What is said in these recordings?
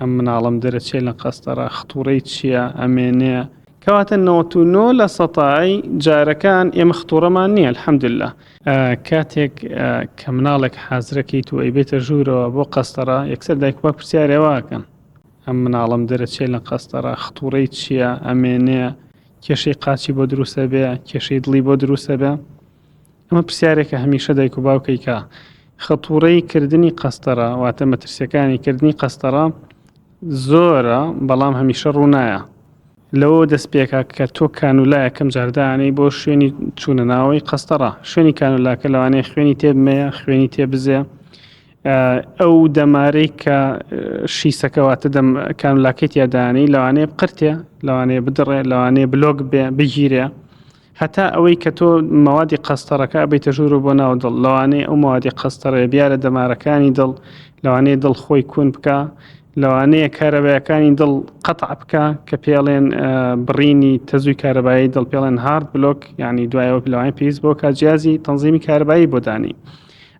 ئەم مناڵەم دەرەچێ لە قەستەرە خطوڕەی چییە ئەمێنێ کەواتە نەوەت و نۆ لە سەتایی جارەکان ئێمە خطوڕەمان نییە الحەمدللا کاتێک کە مناڵێک حازرەکەیت و ئەیبێتە ژوورەوە بۆ قەستەرە یەکسەر دایک باوک پرسیارێواکەن ئەم مناڵەم دەرەچێ لە قەستەرە خطوڕەی چییە ئەمێنێ کێشەی قاچی بۆ دروستە بێ کێشەی دڵی بۆ دروستە بێ ئەمە پرسیارێکە هەمیشە دایک و باوکەی کە خەتوڕەی کردنی قەستەرە واتە مەترسیەکانی کردنی قەستەرە زۆرە بەڵام هەمیشە ڕوونایە لەوە دەست پێکا کە تۆ کانولایەکەم جاردانەی بۆ شوێنی چوونە ناوەی قەستەڕە شوێنی کانولاکە لەوانەیە خوێنی تێبمەیە خوێنی تێبزێ ئەو دەمارەی کە شیسەکەواتە دەم کانولاکەی تیادانەی لەوانەیە قرتێ لەوانەیە بدڕێ لەوانەیە بلۆک بێ بگیرێ هەتا ئەوەی کە تۆ مەوادی قەستەڕەکە ئەبەیتە ژوور و بۆ ناو دڵ، لەوانەیە ئەو مەوادی قەستەڕەیە بیارە دەمارەکانی دڵ، لەوانەیە دڵ خۆی کون بکا، لەوانەیە کارەبایەکانی دڵ قەتع بکا کە پێڵێن بڕینی تەزووی کارەبایی دڵ پێڵێن هارد بلۆک یعنی دوایەوە لەوانەیە پێویست بۆ کا جیازی تەنزیمی کارەبایی بۆ دانی.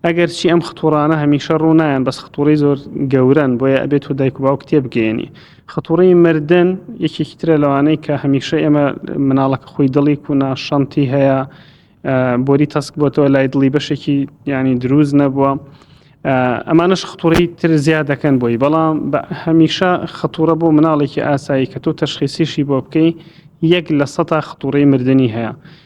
ئەگەر چی ئەم خطوڕانە هەمیشە ڕوو نایەن بەس خطوڕی زۆر گەورەن بۆیە ئەبێت و دایک و باوک تێبگەیەنی خطوڕی مردن یەکێکی ترە لەوانەی کە هەمیشە ئێمە مناڵەکە خۆی دڵی کو ناشەنتی هەیە بۆری تەسک بۆتەوە لای دڵی بەشێکی ینی دروست نەبووە ئەمانش خطوری تر زیاد دەکەن بۆی بەڵام هەمیشە خطورە بۆ مناڵێکی ئاسایی کە تۆ تەشخیسیشی بۆ بکەی یەک لە سەتا خطوری مردنی هەیە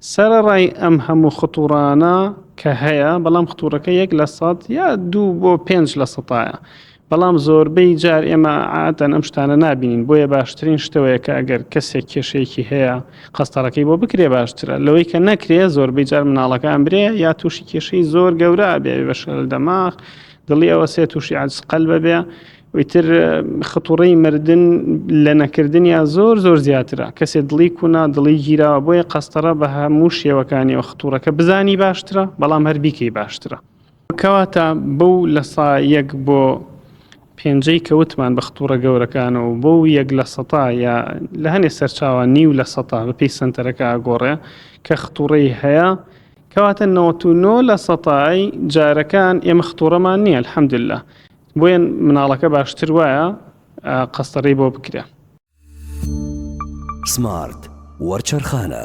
سەرەڕای ئەم هەموو خطوڕانە کە هەیە، بەڵام خطوڕەکە یەک لە سەد یا دوو بۆ پێنج لە سەتایە، بەڵام زۆربەی جار ئێمە عادەتەن ئەم شتانە نابینین، بۆیە باشترین شتەوەیە کە ئەگەر کەسێک کێشەیەکی هەیە قەستەڕەکەی بۆ بکرێ باشترە لەوەی کە نەکرێ، زۆربەی جار مناڵەکە ئەمرێ یا تووشی کێشەی زۆر گەورە ئەبێ ئەبێ بە شلل دەماغ، دڵی ئەوەسێ، تووشی عەجز قەلب ئەبێ. ئیتر خەتوڕەی مردن لە نەکردنیا زۆر زۆر زیاترە کەسێ دڵی کونا دڵی گیراوە بۆیە قەستەڕە بە هەموو شێوەکانیەوە خطوڕەکە بزانی باشترە بەڵام هەر بیکەی باشترە کەواتە بەو لە سا یەک بۆ پێنجەی کەوتمان بە خطوڕە گەورەکانەوە بۆ و یەک لە سەتا یا لە هەنێ سەرچاوە نیو لە سەتا بەپی سنتەرەکە ئاگۆڕێ کە خطوڕەی هەیە کەواتە 99 لە سەتای جارەکان ئێمە خطوڕەمان نییە الحەمدللا بۆیەن مناڵەکە باشتر وایە قەستەرەی بۆ بکرێ. سمارت وەرچەرخانە.